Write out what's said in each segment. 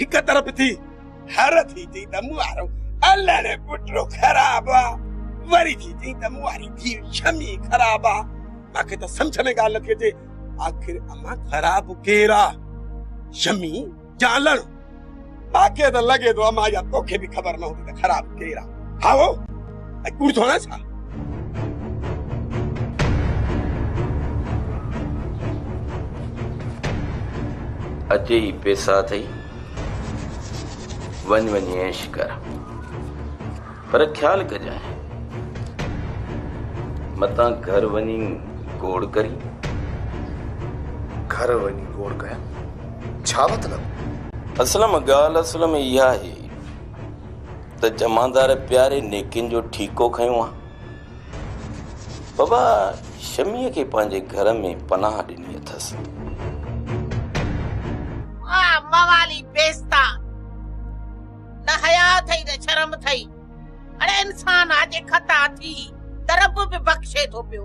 هڪ طرف ٿي هر ٿي چئي ته مون وارو الهڙ پٽڙو خراب آ وري ٿي چئي ته مون واري ڌيء شمي خراب آ مان کي ته سمجهه ۾ ڳالهه نٿي اچي آخر امان خراب ڪير آ شمي يا الهڙ مان کي ته لڳي ٿو امان يا توکي به خبر نه هوندي ته خراب ڪير آ هائو ۽ ڪوڙ ٿو هڻان ڇا؟ اچي هي پيسا اٿئي، وڃ وڃي عيش ڪر. پر خيال ڪجانء، متان گهر وڃي گوڙ ڪرين. گهر وڃي گوڙ ڪيان؟ ڇا مطلب؟ اسلم، ڳالهه اصل ۾ اها آهي. ته جمعدار پياري نيڪين جو ٺيڪو کنيو آ. بابا شميء کي پنهنجي گهر ۾ پناهه ڏني اٿس. آ موالي پيستا، نه حياء اٿئي نه شرم اٿئي. اڙي انسان آ جي خطا ٿي ته رب به بخشي ٿو پيو.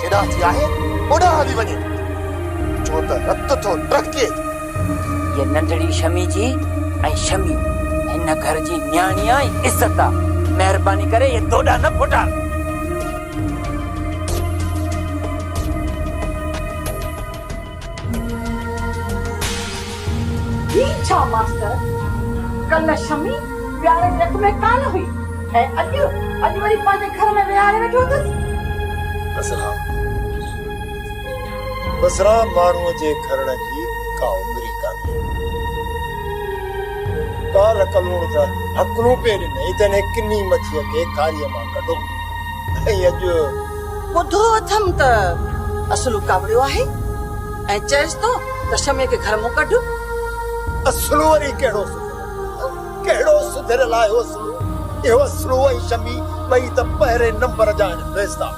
هيڏانهن ٿي آهي هوڏانهن هلي وڃي ڇو ته رت ٿو ٽهڪي. هيء ننڍڙي شمي جي ۽ شمي هن گهر جي نياڻي آ ۽ عزت آ. مهرباني ڪري اهي دوڏا نه ڦوٽار. هي ڇا ماستر! ڪلهه شمي ويهاري جي رڪ ۾ ڪانه هئي ۽ اڄ اڄ وري پنهنجي گهر ۾ ويهاري ويٺو اٿس. بسرام بسرام ماڻهوء جي کرڻ جي ڪا عمر ئي ڪانهي. ڪالهه ڪلهوڙ ته هڪلون پئي ڏنئي تنهن ڪني مڇيء کي کاريء مان ڪڍو ۽ اڄ. ٻڌو اٿم ته اسلو ڪاوڙيو آهي ۽ چئس ٿو ته شمي کي گهر مان ڪڍ. اسلو وري ڪهڙو سڌريل، ڪهڙو سڌريل آهي اسلو، اهو اسلو ۽ شمي ٻئي ته پهرين نمبر جا آهن بيزتا.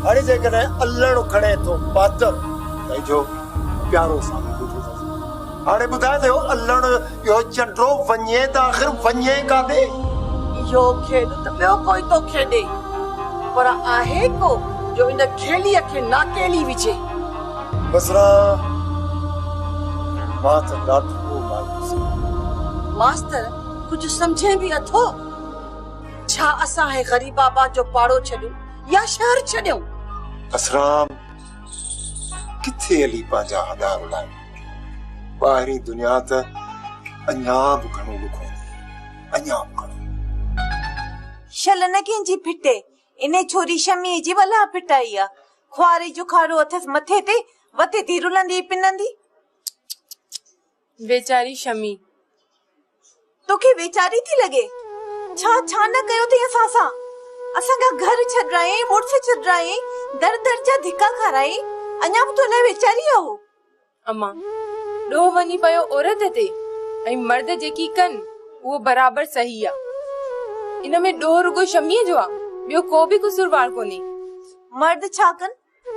هاڻي جيڪڏهن الهڻو کڻي ٿو ماستر ته اجهو پيارو سامي ٻڌو اٿس. هاڻي ٻڌاء ته اهو الهڻو. پيو چنڊو وڃي ته آخر وڃي ڪاڏي؟ اهو کيڏ ته ٻيو ڪوئي ٿو کيڏي، پر آهي ڪو جو ان کيليء کي ناکيلي وجهي؟ بصران، مان ته ڏاڍو مايوس آهيان. ماستر، ڪجهه سمجهين به اٿو؟ ڇا اسان هي غريباباد جو پاڙو ڇڏيون يا شهر ڇڏيون؟ بصران، ڪٿي علي پنهنجا هڏا رلائي. ٻاهرين دنيا ته اڃا به گهڻو ڏکو ٿي. اڃا به گهڻو. شل نه ڪنهنجي ڦٽي. انهي ڇوري شميء جي ولهه ڦٽائي آ. خواري جو کاڙو اٿس مٿي تي، وتي ٿي رلندي پنندي. ويچاري شمي توکي ويچاري ٿي لڳي ڇا ڇا نه ڪيو اٿئي اسان سان اسان کان گهر ڇڏرائين مڙس ڇڏرائين در در جا ڌڪا کارائين اڃا به تو لاء ويچاري اهو. اما ڏوهه وڃي پيو عورت تي ۽ مرد جيڪي ڪن اهو برابر صحيح آ ان ۾ ڏوهه رڳو شميء جو آ ٻيو ڪو به قصوروار ڪونهي. مرد ڇا ڪن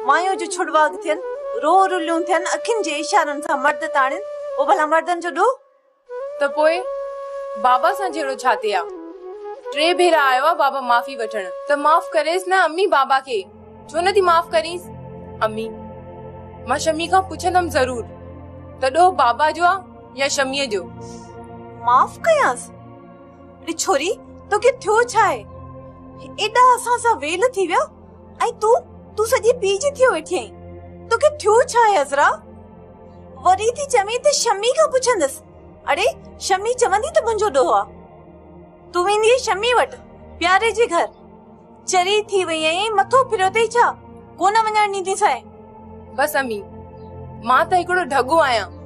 مايون جو ڇڙواڳ ٿين، رو رليون ٿين، اکين جي اشارن سان مرد تاڻين، پوء ڀلا مردن جو ڏوهه؟ ته پوء بابا سان جهيڙو ڇا تي آ؟ ٽي ڀيرا آيو آ بابا معافي وٺڻ، ته معاف ڪريس نه امي بابا کي، ڇو نه ٿي معاف ڪرينس؟ امي، مان شمي کان پڇندم ضرور، ته ڏوهه بابا جو آ يا شميء جو؟ معاف ڪيانس؟ اڙي ڇوري، توکي ٿيو ڇا آهي؟ ايڏا اسان سان ويل ٿي ويا؟ ۽ تون تون سڄي پيء جي ٿيو ويٺين توکي ٿيو ڇا آهي عذرا وري ٿي چوين ته شمي کان پڇندس اڙي شمي چوندي ته منهنجو ڏوهه آ تون ويندي شمي وٽ پياري جي گهر چري ٿي وئي آهين مٿو ڦريو اٿئي ڇا ڪونه وڃڻ ڏينديسانء بس امي مان ته هڪڙو ڍڳو آهيان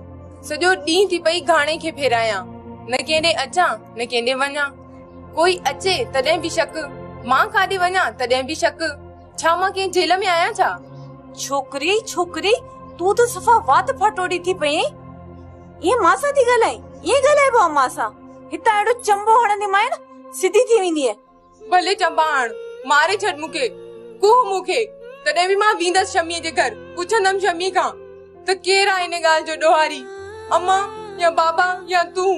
سڄو ڏينهن ٿي پئي گهاڻي کي ڦيرايان نه ڪينڏي اچان نه ڪينڏي وڃان ڪوئي اچي تڏهن به شڪ، مان ڪاڏي وڃان تڏهن به شڪ، ڇا مان ڪنهن جيل ۾ آهيان ڇا؟ ڇوڪري ڇوڪري تون ته صفا وات ڦاٽوڙي ٿي پئين، ائين مان سان ٿي ڳالهائين، ائين ڳالهائبو آهي مان سان، هتان اهڙو چنبو هڻنديمانء سڌي ٿي ويندينء. ڀلي چنبا هڻ، ماري ڇڏ مون کي، ڪوهه مون کي، تڏهن به مان ويندس شميء جي گهر، پڇندم شميء کان ته ڪير آهي ان ڳالهه جو ڏوهاري، امان يا بابا يا تون؟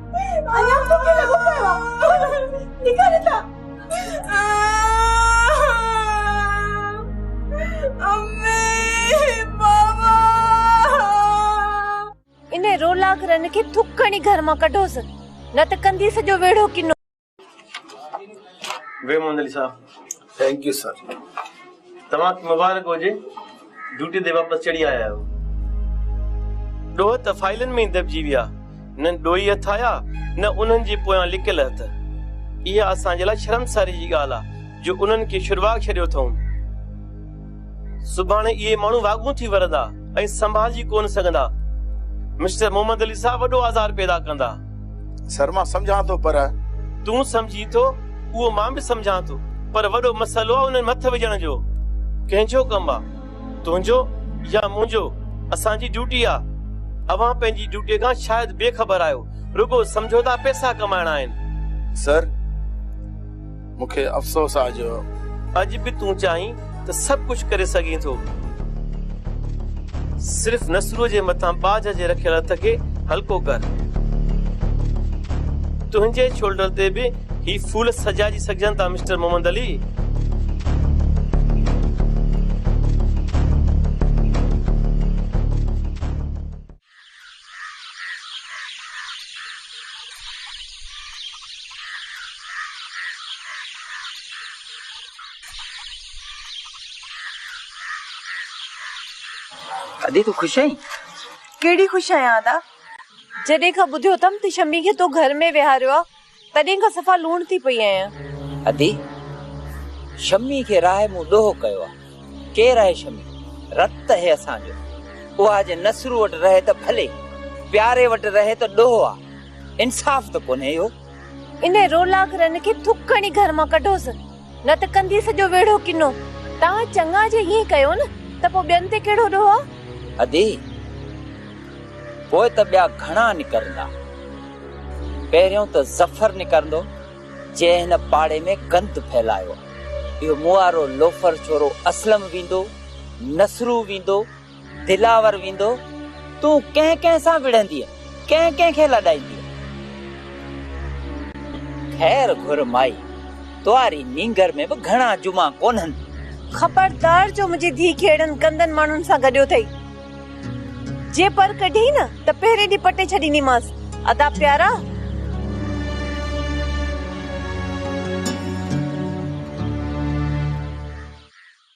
ان رولارن کي ٿڪ هڻي گهر مان ڪڍوس نه ته ڪندي سڄو ويڙهو ڪنو. ويو Muhammad Ali sahib thank you sir توهان کي مبارڪ هجي ڊيوٽي تي واپس چڙهي آيا آهيو ڏوهه ته فائلن ۾ ئي دٻجي ويا نه ڏوهي هٿ آيا نه انهن جي پويان لڪيل هٿ اها اسان جي لاء شرمساري جي ڳالهه آهي جو انهن کي شرواڳ ڇڏيو اٿئون سڀاڻي اهي ماڻهو واڳون ٿي ورندا ۽ سنڀالجي ڪونه سگهندا. مسٽر محمد علي صاحب وڏو آزار پيدا ڪندا. سر مان سمجهان ٿو پر. تون سمجهين ٿو اهو مان به سمجهان ٿو پر وڏو مسئلو آ انهن مٿ وجهڻ جو. ڪنهن جو ڪم آ؟ تنهنجو يا منهنجو؟ اسان جي ڊيوٽي آ. اوهان پنهنجي ڊيوٽي کان شايد بي خبر آهيو. رڳو سمجهو ٿا پئسا ڪمائڻا آهن. سر! مون کي افسوس آ جو. اڄ به تون چاهين ته سڀ ڪجهه ڪري سگهين ٿو. صرف نسروء جي مٿان ٻاجهه جي رکيل هٿ کي هلڪو ڪر. تنهنجي شولڊر تي به هي ڦول سجائجي سگهجن ٿا مسٽر محمد علي. ادي تون خوش آهين؟ ڪهڙي خوش آهيان ادا، جڏهن کان ٻڌيو اٿم ته شمي کي تو گهر ۾ ويهاريو آ، تڏهن کان صفا لوڻ ٿي پئي آهيان. ادي! شمي کي راهي مون ڏوهه ڪيو آ. ڪير آهي شمي؟ رت اهي اسان جو. اها جي نصرو وٽ رهي ته ڀلي، پياري وٽ رهي ته ڏوهه آ. انصاف ته ڪونهي اهو. انهي رولاڪرن کي ٿڪ هڻي گهر مان ڪڍوس. نه ته ڪندي سڄو ويڙهو ڪنو. توهان چڱا جي ائين ڪيو نه ته پوء ٻين تي ڪهڙو ڏوهه آ؟ ادي! پوء ته ٻيا گهڻا نڪرندا. پهريون ته ظفر نڪرندو، جنهن هن پاڙي ۾ گند ڦهلايو. اهو موئارو لوفر ڇورو اسلم ويندو، نصرو ويندو. دلاور ويندو، تون ڪنهن ڪنهن سان وڙهندينء، ڪنهن ڪنهن کي لڏائيندينء؟ خير گهر مائي، تنهاري نينگر ۾ به گهڻا جمعا ڪونهن. خبردار جو منهنجي ڌيء کي اهڙن گندن ماڻهن سان گڏيو ٿئي. جي پر ڪڍي نه ته پهرين ڏينهن پٽي ڇڏينديمانس. ادا پيارا!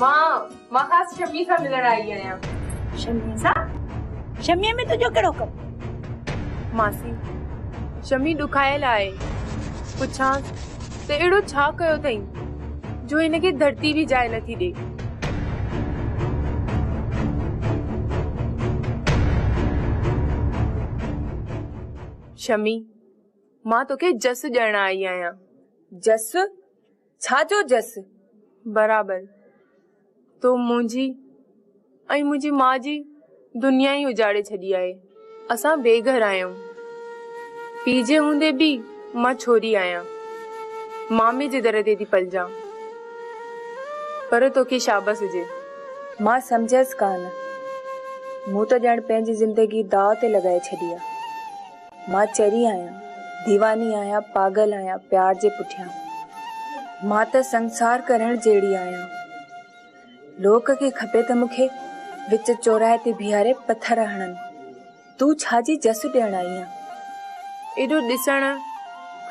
مان مان خاص شمي سان ملڻ آئي آهيان شمي سان شمي ۾ تنهنجو ڪهڙو ڪم ماسي شمي ڏکايل آهي پڇان ته اهڙو ڇا ڪيو اٿئي جو هن کي ڌرتي به جاء نٿي ڏي شمي مان توکي جس ڏيڻ آئي آهيان جس ڇا جو جس برابر تو منهنجي ۽ منهنجي ماء جي دنيا ئي اجاڙي ڇڏي آهي. اسان بي گهر آهيون. پيء جي هوندي به مان ڇوري آهيان. مامي جي در تي ٿي پلجان. پر توکي شابس هجي. مان سمجهيس ڪانه. مون ته ڄڻ پنهنجي زندگي داء تي لڳائي ڇڏي آ. مان چري آهيان، ديواني آهيان، پاڳل آهيان پيار جي پٺيان. مان ته سنسار ڪرڻ جهڙي آهيان. لوڪ کي کپي ته مون کي وچ چوراهي تي بيهاري پٿر هڻن. تون ڇا جي جس ڏيڻ آئي آهين؟ ايڏو ڏسڻ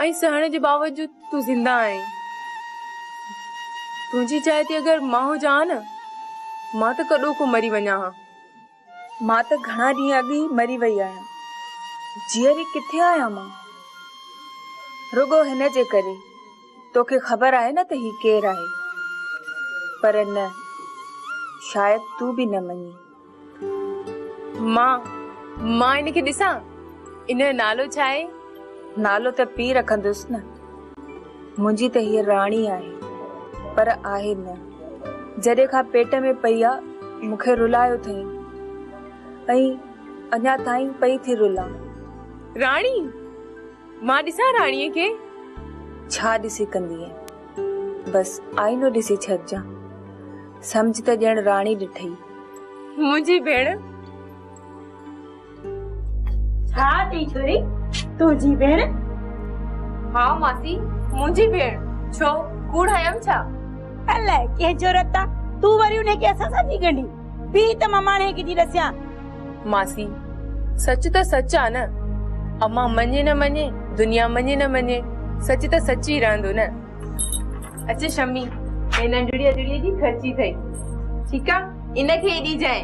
۽ سهڻ جي باوجود تون زنده آهين. تنهنجي جاء تي اگر مان هجان ها نه، مان ته ڪڏو ڪو مري وڃان ها. مان ته گهڻا ڏينهن اڳ ئي مري وئي آهيان. جيئري ڪٿي آهيان مان؟ رڳو هن جي ڪري. توکي خبر آهي نه ته هي ڪير آهي. پر نه، شايد تون به نه مڃين. مان، مان هن کي ڏسان؟ هن جو نالو ڇا آهي؟ نالو ته پيء رکندس نه. منهنجي ته هيء راڻي آهي، پر آهي نه. جڏهن کان پيٽ ۾ پئي آ، مون کي رلايو اٿئين ۽ اڃا تائين پئي ٿي رلان. راڻي! مان ڏسان راڻيء کي؟ ڇا ڏسي ڪندينء؟ بس آئينو ڏسي ڇڏجان. سمجهه ته ڄڻ راڻي ڏٺئي. منهنجي ڀيڻ! ها اٿي ڇوري تنهنجي ڀيڻ. ها ماسي منهنجي ڀيڻ ڇو ڪوڙ هيم ڇا. الاء ڪنهن جرئت تان تون وري انهي کي اسان سان ٿي ڳنڍين. بيهه ته مان ماڻهي کي ٿي ڏسيان. ماسي سچ ته سچ آ نه. امان مڃي نه مڃي دنيا مڃي نه مڃي سچ ته سچ ئي رهندو نه. اچ شمي هي ننڍڙي اجڙي جي خرچي ٿئي ٺيڪ آ ان کي ئي ڏيجانء.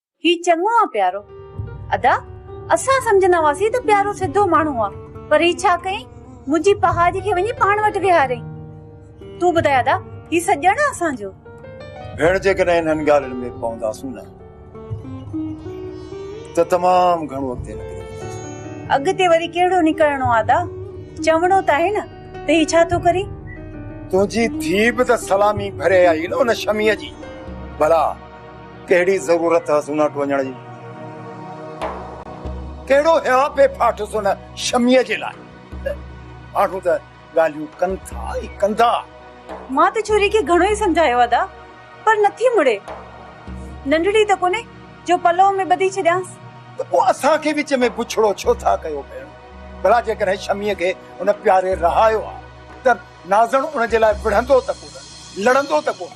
هي چڱو آ پيارو. ادا اسان سمجهندا هئاسين ته پيارو سڌو ماڻهو آ پر هي ڇا ڪيائين منهنجي پهاڄ کي وڃي پاڻ وٽ ويهاريائين. تون ٻڌاء ادا هي سڄڻ آ اسان جو. ڀيڻ جيڪڏهن انهن ڳالهين ۾ پونداسون نه ته تمام گهڻو اڳتي نڪري وينداسون. اڳتي وري ڪهڙو نڪرڻو آ ادا چوڻو ته آهي نه ته هي ڇا ٿو ڪري. تنهنجي ڌيء به ته سلامي ڀري آئي نه ان شميء جي. ڀلا ڪهڙي ضرورت هئس ان وٽ وڃڻ جي؟ ڪهڙو هيا پئي ڦاٽس ان شميء جي لاء؟ ماڻهو ته ڳالهيون ڪن ٿا ۽ ڪندا. مان ته ڇوري کي گهڻو ئي سمجهايو ادا، پر نٿي مڙي. ننڍڙي ته ڪونهي جو پلئو ۾ ٻڌي ڇڏيانس. ته پوء اسان کي وچ ۾ بڇڙو ڇو ٿا ڪيو ڀيڻ؟ ڀلا جيڪڏهن شميء کي ان پياري رهايو ها ته نازڻ ان جي لاء وڙهندو ته ڪونه، لڙندو ته ڪونه؟